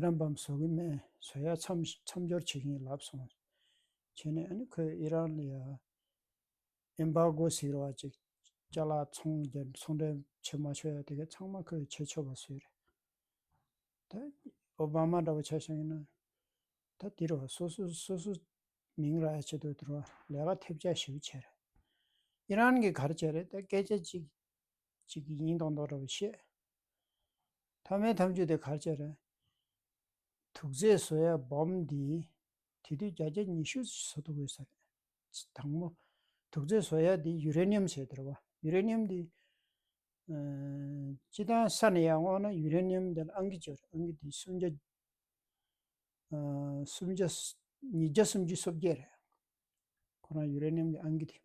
རམ་པའམ་བཟོ་གི་མེད་བཟོ་ཡ་མཚམས་སྦྱོར་བྱེད་ཀྱིན་ལབ་སོང་བྱས་ནས་ཨ་ནི་ཁོས་ཨི་རན་ལ Embargo ཟེར་བ་ཅིག་བཅག་ལ་ཚོང་བརྒྱད་ཚོང་འབྲེལ་བྱེད་མ་ཆོག་ཡ་དེ་གའི་ཚང་མ་ཁོས་བྱེད་ཆོག་པ་བཟོས་རེད་ད་ཨོ་བྷ་མ་འདྲ་བོ་བྱས་སོང་ཡིན་ན་ད་དེ་རུ་སོ་སོ་སོ་སོ་མིང་ར་བྱེད་དུ་དེ་རུ་ལས་ཀ་ཐེབས་བྱ་ཞིབ་བྱས་རེད་ཨི་རན་གི་གར་བྱས་རེད་ད་སྐད་ཆ་གཅིག་གཅིག་གིས་སྙིང་དང་མདོག་འདྲ་བར་བཤད། ཐ་མལ་ཐམས་ཅད་དེ་གར་བྱས་རན། དུག་རྫས་བཟོ་ཡ་བམ་འདི། དེ་དུས་བརྒྱ་རྒྱ་ཉི་ཤུ་བཟོ་ཐུབ་དགོས་ཟེར། དང་པོ། དུག་རྫས་བཟོ་ཡ་འདི་ཡུ་རེ་ནིའམ་ཟེར་དེར་བ། ཡུ་རེ་ནིའམ་འདི། སྤྱི་དང་ས་ནི་ཡང་འོག་ན་ཡུ་རེ་ནིའམ་འདི་ལ་ཨང་ཀི་བཅུ་རེ་ཨང་ཀི་འདི་སུམ་བརྒྱ། སུམ་བརྒྱ། ཉིས་བརྒྱ་སུམ་བཅུ་སོ་བརྒྱད་རེ། ཁོ་རང་ཡུ་རེ་ནིའམ་གྱི་ཨང་ཀི་དེ།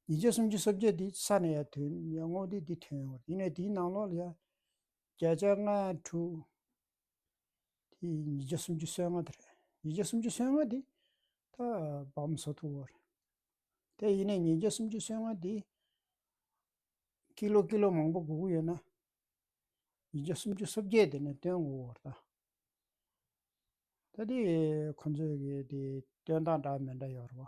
ཉིས་བརྒྱ་སུམ་ཅུ་སོ་བརྒྱད་དེའི་ས་ནས་ཡང་དོན་ཡང་བསྔོག་འདི་འདི་ཐོན་ཡོང་བ་རེད་ཡིན་ནའི་དེའི་ནང་ལོགས་ལ་ཡང་བརྒྱ་ཆ་ལྔ་དྲུག་དེ་ཉིས་བརྒྱ་སུམ་ཅུ་སོ་ལྔ་དེ་རེད་ཉིས་བརྒྱ་སུམ་ཅུ་སོ་ལྔ་དེ་ད་བམ་བཟོ་ཐུབ་བོ་རེད་དེ་ཡིན་ནའི་ཉིས་བརྒྱ་སུམ་ཅུ་སོ་ལྔ་དེ་ཀི་ལོ་ཀི་ལོ་མང་པོ་སྒུག་གི་ཡོད་ན་ཉིས་བརྒྱ་སུམ་ཅུ་སོ་བརྒྱད་དེ་ནས་བཏོན་དགོས་བོ་རེད་ད། ད་དེ་ཁོང་ཚོས་ཀྱི་དེ་བཏོན་སྟངས་འདྲ་མི་འདྲ་ཡོད་རེད་བ།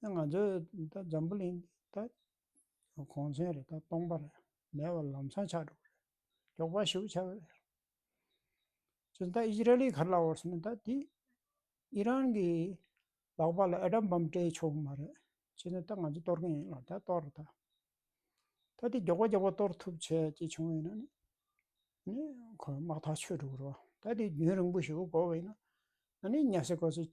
ད་ང་ཚོ་ད་འཛམ་བུ་གླིང་ད་གོང་ཚན་རེད་ད་སྟོང་པ་རེད་མེད་པ་ལམ་སང་ཆགས་འགྲོ་གི་རེད་མགྱོགས་པ་ཞིག་ཆགས་གི་རེད། ཅི་ད་ཨི་ར་ལི་གར་ལ་འོར་སོང་ད་དེ་ཨི་རན་གི་ལག་པ་ལ་ཨེ་ཏྲམ་བམ་སྤྲད་ཆོག་མ་རེད་ཅི་ནས་ད་ང་ཚོ་གཏོར་གིན་ཡིན་ལ་ད་གཏོར་རོ་ད། ད་དེ་མགྱོགས་པ་མགྱོགས་པ་གཏོར་ཐུབ་བྱས་ཅིག་བྱུང་བས་ན་ནི་ཁོ་དམག་ཐག་ཆོད་འགྲོ་གི་རེད། ད་དེ་རྒྱུན་རིང་པོ་ཞིག་འགོར་བས་ན་ནི་ཉལ་སྲིད་གོ་སྲིད་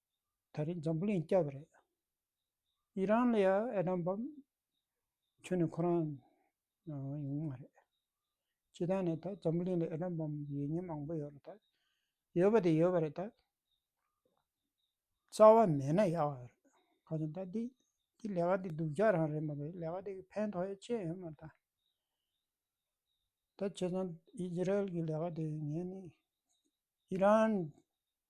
ད་རེས་འཛམ་བུ་གླིང་སྐྱབས་པ་རེད། ཨི་རན་ལ་ཡང་ཨེ་དམ་བམ་ཁྱོན་ནས་ཁོ་རང་ཡོང་མ་རེད། སྤྱི་ཐང་ནས་ད་འཛམ་བུ་གླིང་ལ་ཨེ་དམ་བམ་ཡོད་ཉེན་མང་པོ་ཡོད་རེད་ད། ཡོད་པ་དེ་ཡོད་པ་རེད་ད། རྩ་བ་མེད་ན་ཡག་ཡོད་རེད། ཁ་ཅན་ད་འདི་འདི་ལས་ཀ་འདི་སྡུག་ཅག་རང་རེད་མ་རེད་ལས་ཀ་འདི་གི་ཕན་ཐོགས་ཡོད་ཅེས་ཡོད་མ་རེད་ད། ད་བྱས་ཙང་ཨི་ཛི་རལ་གི་ལས་ཀ་དེ་ངས་ནི་ཨི་རན་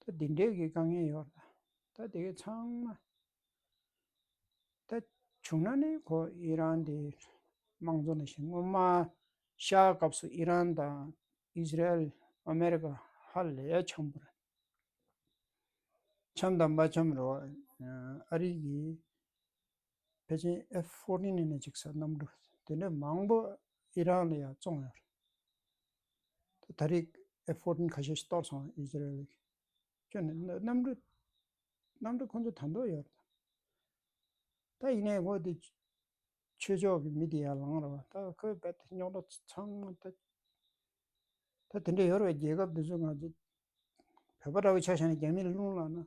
ད་འདི་འདྲའི་གི་དཀའ་ངལ་ཡོད་ལ། ད་དེ་གི་ཚང་མ། ད་བྱུང་ན་ནི་ཁོ་ཨི་རན་དེ་དམངས་གཙོ་ནི་ཞིག་སྔོན་མ་ཤ་སྐབས་སུ་ཨི་རན་དང་ཨིས་ར་ཨེལ་ཨ་མེ་རི་ཀ་ཧ་ལས་འཁྱམས་པོ་རེད། འཁྱམས་དང་མ་འཁྱམས་རེད། ཨ་རིག་གི་བེ་ཅིན་ཨེཕ་ཕོར་ཏིན་ཨེ་ནི་ཅིག་ས་གནམ་གྲུ་དེ་འདྲ་མང་པོ་ཨི་རན་ལ་ཡང་བཙོང་ཡོད་རེད། ད་རེས་ཨེ་ཧྥོར་ཏན་ཁ་ཤས་ཤིག་གཏོར་སོང་ཨིས་རལ་ལིག་ཁྱོད་ནི་གནམ་གྲུ་གནམ་གྲུ་ཁོ་ཚོ་དར་མདོ་ཡོད་ད་ཡིན་ནའི་ཁོ་དེ་ཆོས་ཕྱོགས་ཀྱི་མི་དེ་ཡར་ལངས་རོགས་ད་ཁོའི་བལ་ཏེ་རྙོག་དྲ་ཚང་མ་ད་ད་དེ་འདྲ་ཡོད་རེད་རྒྱལ་ཁབ་དེ་ཚོ་ང་ཚོ་བོད་པ་འདྲ་བོ་ཆགས་བཞག་ནས་རྒྱ་མིའི་ལུང་ལག་ན་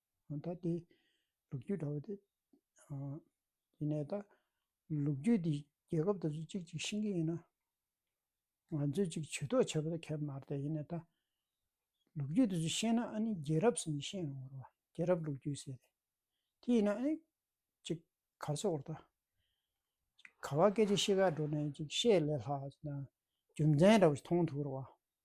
ད་ལྟའི་ལུག་ཁྱུ་འདྲ་བོ་དེ། ཡིན་ནའི་ད། ལུག་ཁྱུ་འདི་རྒྱལ་ཁབ་དེ་ཚོ་གཅིག་གཅིག་ཤིང་གི་ཡིན་ན། ང་ཚོས་གཅིག་ཇུས་གཏོགས་བྱེད་པ་དེ་ཁེབས་མ་རེད་ཡིན་ནའི་ད། ལུག་ཁྱུ་དེ་ཚོ་ཤེས་ན་ཨ་ནི་རྒྱལ་རབས་སུ་མི་ཤེས་རུང་བ་རེད། རྒྱལ་རབས་ལུག་ཁྱུ་ཟེར་ཏེ། དེ་ཡིན་ན་ཨ་ནི། གཅིག་གར་སོ་བར་ད། ག་བ་སྐད་ཆ་ཤེས་ག་འགྲོ་ནས་གཅིག་བཤད་ལས་ལྷག་ཅིག་ན། རྒྱུ་མཚན་འདྲ་བོ་ཞིག་མཐོང་ཐུབ་བར་བ།